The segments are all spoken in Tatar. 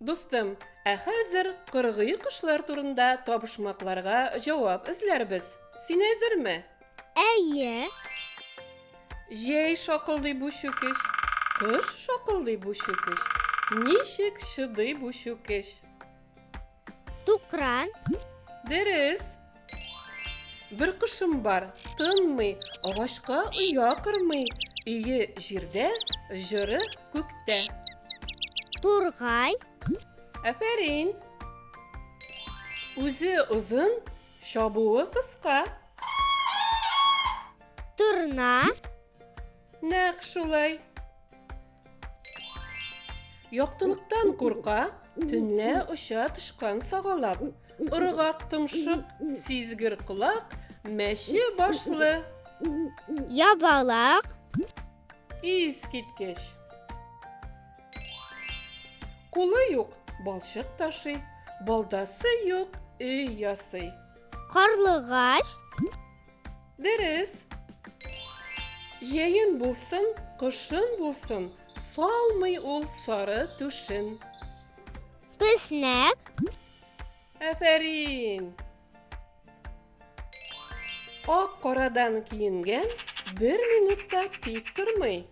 Дустым, ә хәзер кыргый кошлар турында табышмакларга җавап эзләрбез. Син әзерме? Әйе. Җәй шакылдый бу чүкеш, кыш шакылдый бу чүкеш. Ничек чыдый бу чүкеш? Тукран. Дөрес. Бер кошым бар, тынмый, агачка оя кырмый. Өе җирдә, җыры күктә. Тургай. Әфәрин. Үзе озын, чабуы кыска. Турна. Нәкъ шулай. Яктылыктан курка, төнлә оча тышкан сагалап. Ырыгак томшык, сизгер колак, мәче башлы. Ябалак. Ис киткеч. Кулы юк, балчык ташый, балдасы юк, өй ясый. Карлыгач. Дөрес! Җәен булсын, кышын булсын, салмый ул сары түшен. Песнәк. Афәрин! Ак-карадан киенгән бер минутта тик тормый.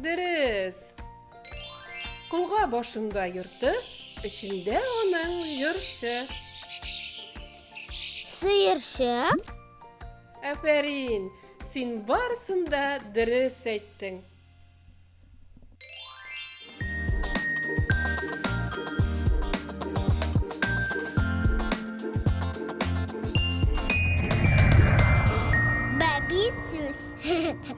Дөрес! Колга башында йорты, эчендә аның җырчы. Сыерчы? Афәрин! Син барысын да дөрес әйттең. Бәби сүз.